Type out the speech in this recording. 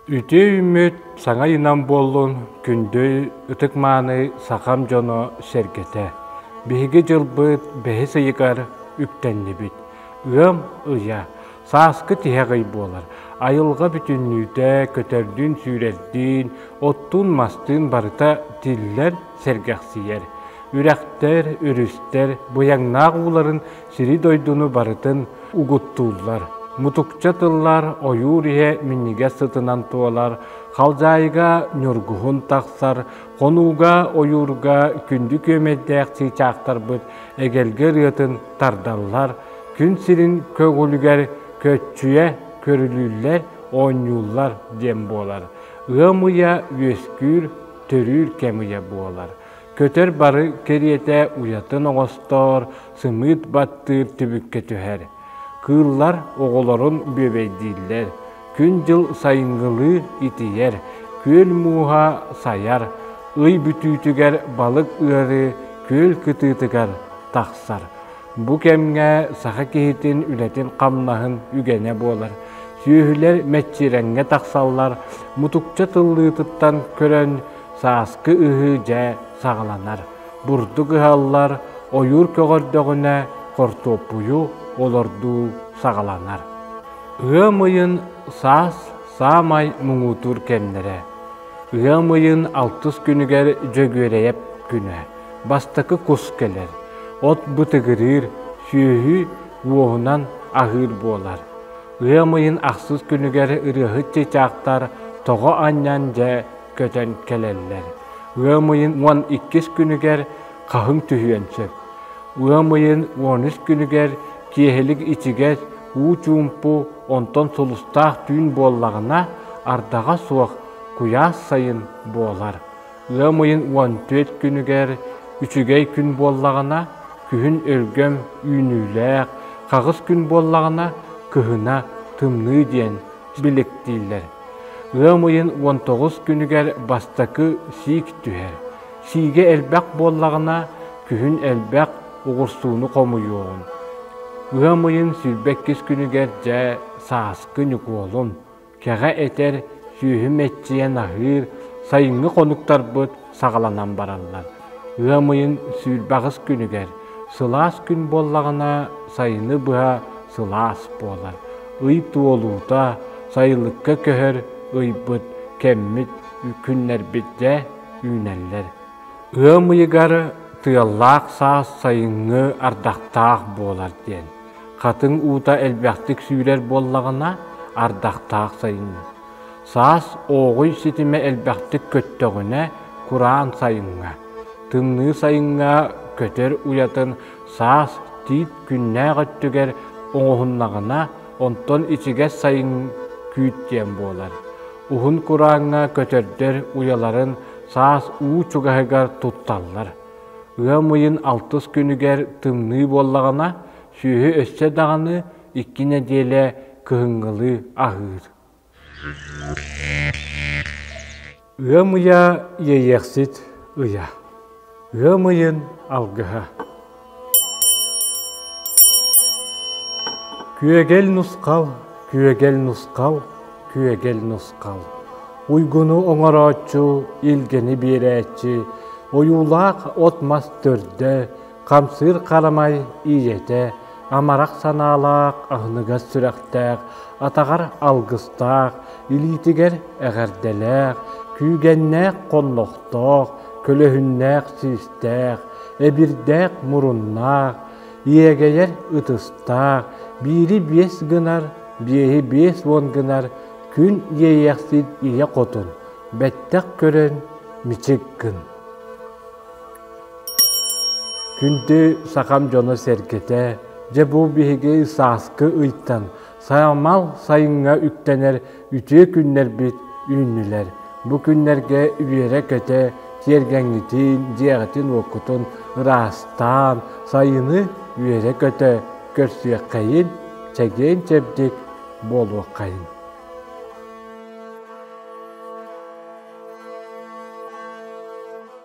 Үтүө үүммүт саҥа ыйынан буоллун күндү ытык-мааны сахам дьоно сэргэтэ! Биһиги дьылбыт бэһис ыйыгар үктэннибит. Ыам ыйа, сааскы тиһэх ый буолар. Айылҕа бүтүннүүтэ көтөрдүүн-сүүрэрдиин, оттуун-мастыын барыта тиллэр, сэргэхсийэр. Үрэхтэр, өрүстэр быйаҥнаах ууларын сири-дойдуну барытын угуттууллар, мутукча тыллар ойуур иһэ минньигэс сытынан туолар, халдьаайыга ньургуһун тахсар, хонууга, ойуурга күндү күөмэйдээх чыычаахтарбыт эгэлгэ ырыатын тардаллар, күн сирин көҕүлүгэр көччүйэ көрүлүүллэр, оонньууллар диэн буолар. Ыам ыйа үөскүүр, төрүүр кэм ыйа буолар. Көтөр бары кэриэтэ уйатын оҥостоор, сымыыт баттыыр түбүккэ түһэр. Кыыллар оҕолорун бүөбэйдииллэр. Күн-дьыл сайыҥҥылыы итийэр, күөл мууһа сайар, ый бүтүүтүгэр балык ыарыы күөл кытыытыгар тахсар. Бу кэмҥэ саха киһитин үлэтин-хамнаһын үгэнэ буолар. Сүөһүлэр мэччирэҥҥэ тахсаллар, мутукча тыллыытыттан көрөн, сааскы ыһыы дьэ саҕаланар. бурдук ыһаллар, ойуур көҕөрдөҕүнэ хортуоппуйу олордуу саҕаланар. Ыам ыйын саас саамай муҥутуур кэмнэрэ. Ыам ыйын алтыс күнүгэр Дьөгүөрэйэп күнэ. Бастакы кус кэлэр. От бытыгырыыр, сүөһү уоһунан аһыыр буолар. Ыам ыйын ахсыс күнүгэр ырыаһыт чычаахтар тоҕо анньан дьэ көтөн кэлэллэр. Ыам ыйын уон иккис күнүгэр хаһыҥ түһүөн сөп. Ыам ыйын он үс күнүгэр киэһэлик ичигэс уу чуумпу онтон сулустаах түүн буоллаҕына ардаҕа суох куйаас сайын буолар. Ыам ыйын уон түөрт күнүгэр үчүгэй күн буоллаҕына күһүн өлгөм үүнүүлээх, хаҕыс күн буоллаҕына кыһына тымныы диэн биликтииллэр. Ыам ыйын уон тоҕус күнүгэр бастакы сиик түһэр. Сиигэ элбэх буоллаҕына, күһүн элбэх, угурсууну хомуйуоҕун. Ыам ыйын сүүрбэккис күнүгэр, дьэ, сааскы ньукуолун, кэҕэ этэр, сүөһү мэччийэн аһыыр, сайыҥҥы хонуктарбыт саҕаланан бараллар. Ыам ыйын сүүрбэҕис күнүгэр сылаас күн буоллаҕына, сайыны быһа сылаас буолар. Ый туолуута, сайылыкка көһөр ыйбыт, кэммит, күннэрбит дьэ үүнэллэр. Ыам ыйыгар тыаллаах саас сайыҥҥы ардахтаах буолар диэн. Хатыҥ уута элбэхтик сүүрэр буоллаҕына, ардахтаах сайыҥҥы. Саас ооҕуй ситимэ элбэхтик көттөҕүнэ, кураан сайыҥҥа, тымныы сайыҥҥа көтөр уйатын саас тиит күннээх өттүгэр оҥоһуннаҕына, онтон ичигэс сайын күүт диэн буолар. Уһун курааҥҥа көтөрдөр уйаларын саас уу чугаһыгар тутталлар. Ыам ыйын алтыс күнүгэр тымныы буоллаҕына, сүөһү өссө даҕаны икки нэдиэлэ кыһыҥҥылыы аһыыр. Ыам ыйа иэйиэхсит ыйа. Ыам ыйын алгыһа. Күөгэл нусхал, күөгэл нусхал, күөгэл нусхал. Уйгуну оҥорооччу, илгэни биэрээччи, ойуулаах от-мас төрдө, Хамсыыр харамай ийэтэ амарах санаалаах, аһыныгас сүрэхтээх, атаҕар алгыстаах, илиитигэр эҕэрдэлээх, күүгэннээх хоннохтоох, көлөһүннээх-сиистээх, эбирдээх муруннаах, иэгэйэр ытыстаах, биири биэс гынар, биэһи биэс уон гынар күн иэйэхсит ийэ хотун, бэттэх көрөн мичик гын. Күндү сахам дьоно-сэргэтэ, дьэ бу биһиги сааскы ыйтан саамал сайыҥҥа үктэнэр үтүө күннэрбит үүннүлэр. Бу күннэргэ үөрэ-көтө тиэргэҥҥитин, дьиэҕитин-уоккутун ыраастаан, сайыны үөрэ-көтө көрсүөххэйин, чэгиэн-чэбдик буолуоххайын.